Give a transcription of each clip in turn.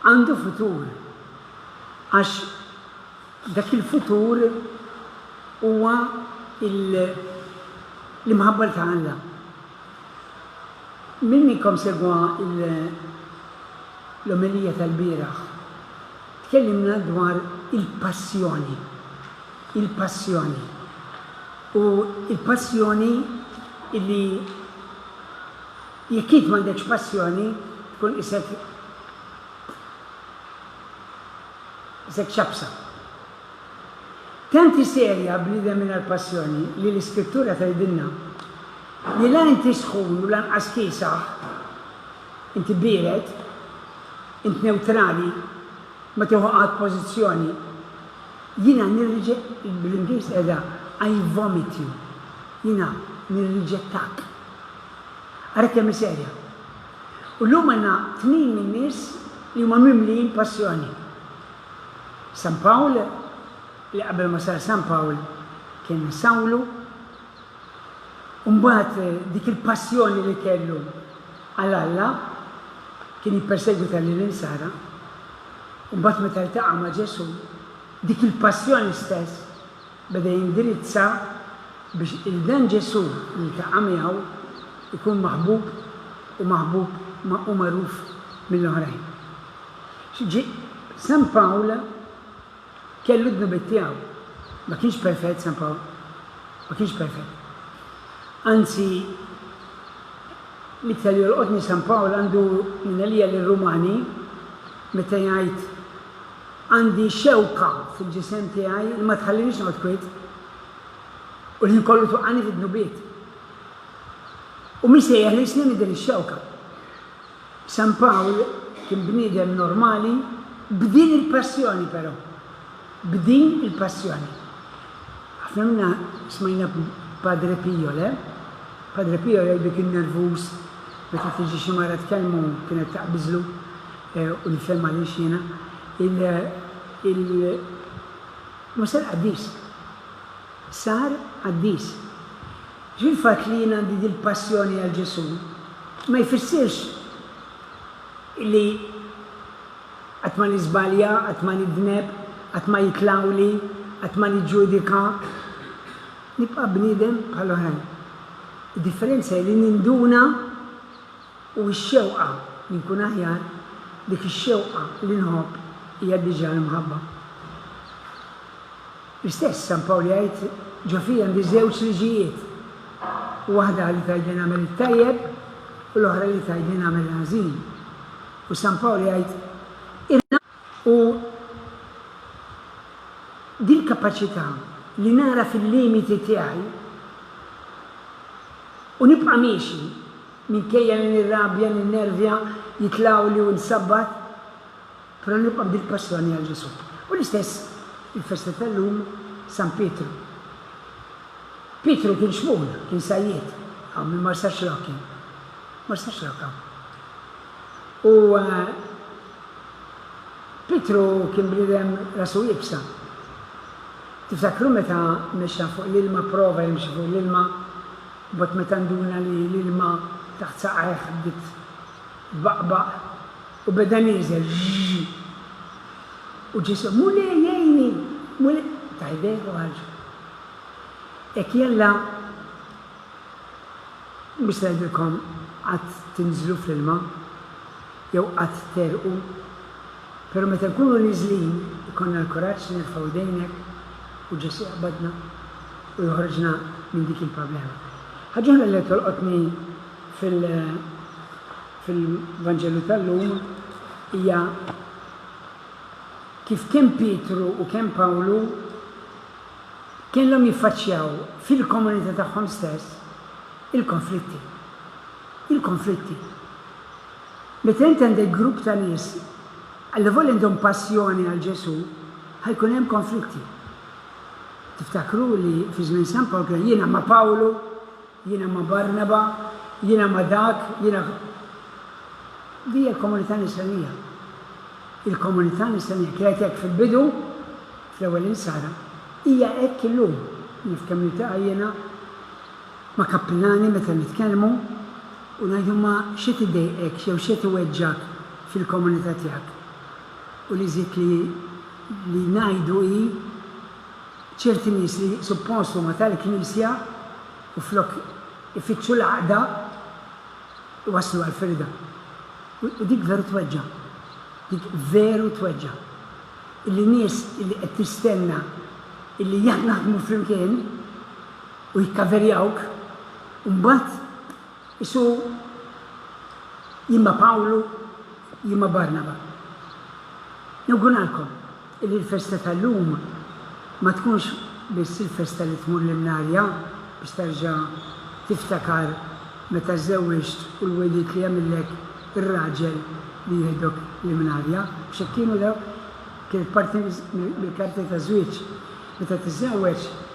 Għandu futur, għax dak il-futur huwa l-imħabba ta' Alla. Min minnkom segwa l-omelija tal-bieraħ, tkellimna dwar il-passjoni, il-passjoni. U l-passjoni li Jekk int m'għandekx passjoni, tkun qisek qisek xabsa. Tant hi serja bniedem mingħajr passjoni li l-Iskrittura tgħidilna li la inti sħun u lanqas kiesaħ, inti biered, int newtrali, ma tieħu qatt pożizzjoni. Jiena nirriġe, bl-Ingliż qiegħda I vomit you, jiena nirriġettak. Ara kemm hi serja! U llum għandna tnejn min-nies li huma mimlijin passjoni. San Pawl, li qabel ma sar San Pawl kien Sawlu, u mbagħad dik il-passjoni li kellu għal Alla, kien jippersegwita lill-Insara, u mbagħad meta ltaqa' ma' Ġesù, dik il-passjoni stess Beda jindirizza biex il-Dan Ġesù li ltaqa' miegħu jkun maħbub u maħbub ma' u magħruf mill-oħrajn. Xi ġie, San Pawl kellu d-dnubiet tiegħu. Ma kienx perfett San Pawl. Ma kienx perfett. Anzi, l-iktar li jolqotni San Pawl għandu minn għalija lir-Rumani meta jgħid Għandi xewka fil-ġisem tiegħi li ma tħalliniex noqgħod kwiet, u l-ħin kollu twaqqagħni fid-dnubiet. U min se jeħlisni minn din ix-xewka? San Pawl kien bniedem normali b'din il-passjoni però. B'din il-passjoni. Ħafna minna smajna Padre Pio, le? Padre Pio jgħidlu kien nervuż meta tiġi xi mara tkellmu kienet taqbiżlu. U nifhem għaliex jiena. Il, il, ma sar qaddis. Sar qaddis. Ġifieri l-fatt li jien għandi dil-passjoni għal Ġesù ma jfissirx li qatt ma niżbalja, qatt ma nidneb, qatt ma jitlgħuli, qatt ma niġġudika. Nibqa' bniedem bħal oħrajn. Id-differenza hi li ninduna u x-xewqa li nkun aħjar, dik ix-xewqa li nħobb hija diġà l-imħabba. L-istess San Pawl jgħid, Ġo fija għandi żewġ liġijiet, waħda li tgħidli nagħmel it-tajjeb u l-oħra li tgħidli nagħmel il-ħażin. U San Pawl jgħid, Irna u dil-kapaċità li nagħraf il-limiti tiegħi u nibqa' miexi Minkejja li nirrabja, ninnervja, jitlgħuli u nsabbat, però nibqa' b'dik passjoni għal Ġesù. U l-istess il-festa tal-lum San Pietru. Pietru kien xmugħ, kien sajjied, hawn min mar sax-Xlokja. Mar sax-Xlokja. U Pietru kien bniedem rasu iebsa. Tiftakru meta mexxa fuq l-ilma, pprova jimxi fuq l-ilma? Imbagħad meta nduna li l-ilma taħt saqajh bdiet tbaqbaq u beda nieżel ġġġ. U Ġesù, Mulej, għinni! Mulej! Ta' jdejh u ħarġu. Hekk jalla mhux se ngħidilkom qatt tinżlu fl-ilma. jew qatt terqu, pero' meta nkunu niżlin ikollna l-kuraġġ nerfgħu jdejnek u Ġesu' jaqbadna u joħroġna minn dik il-problema. Ħaġa oħra li qed tolqotni fil fil-Vanġelu tal-lum hija kif kemm Pietru u kemm Pawlu kellhom jiffaċċjaw fil-komunità tagħhom stess il-konflitti. Il-konflitti. Meta int għandek grupp ta' nies, allavolja għandhom passjoni għal Ġesù, ħa jkun hemm konflitti. Tiftakru li fi żmien San Pawl kien hemm jiena ma' Pawlu, jiena ma' Barnaba, jiena ma' dak, jiena. Din hija l-komunità Nisranija. Il-komunità Nisranija kienet hekk fil-bidu, fl-ewwel Insara, hija hekk illum, naf kemm niltaqa' jiena, ma' kappilani meta nitkellmu u ngħidu ma x'qed idejqek jew x'qed iweġġgħek fil-komunità tiegħek u li żidt li li ngħidu hi ċerti nies li suppost huma tal-Knisja u flok ifittxu l-għaqda iwasslu għall-firda. U dik veru tweġġa'. Dik veru tweġġa'. Illi nies illi qed tistenna illi jekk naħdmu flimkien u jikkaverjawk u mbagħad isu jimma Pawlu jimma Barnaba. Nawguralkom illi l-festa tal-lum ma tkunx biss il-festa li tmur l-imnarja biex terġa' tiftakar meta żżewwiġt u l-wegħdiet li għamillek ir-raġel li jieħdok l-imnarja, mhux hekk kienu dawk? Kienet parti mill-karti taż-żwieġ. Meta tiżżewweġ.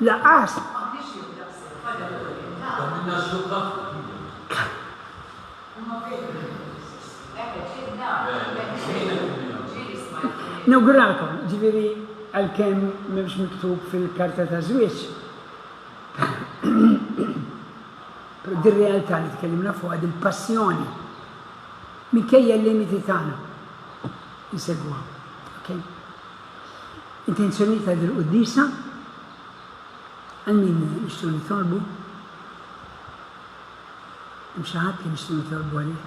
Laqas. Nawguralkom, ġifieri għalkemm m'hemmx miktub fil-karta ta' żwieġ, dir-realtà li tkellimna fuqha, dil-passjoni, minkejja l-limiti tagħna, insegwuha. Okay? Intenzjonijiet ta' dil-quddiesa, Għal min nixtru nitolbu? Hemm xi ħadd li nixtru nitolbu għalih?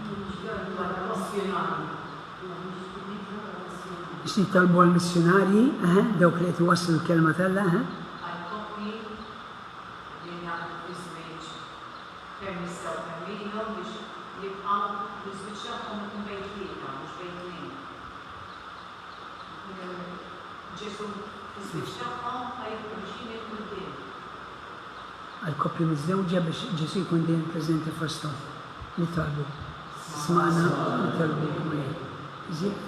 Biex nitolbu għal missjunarji, eħe, dawk li qed iwasslu l-kelma tal-la, eħe. Għall-koppja miżżewġa biex Ġesù jkun dejjem preżenti fosthom, nitolbu. Smagħna u nitolbu Mulej. Żied.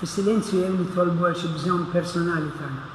Fis-silenzju dejjem nitolbu għal xi bżonn personali tagħna.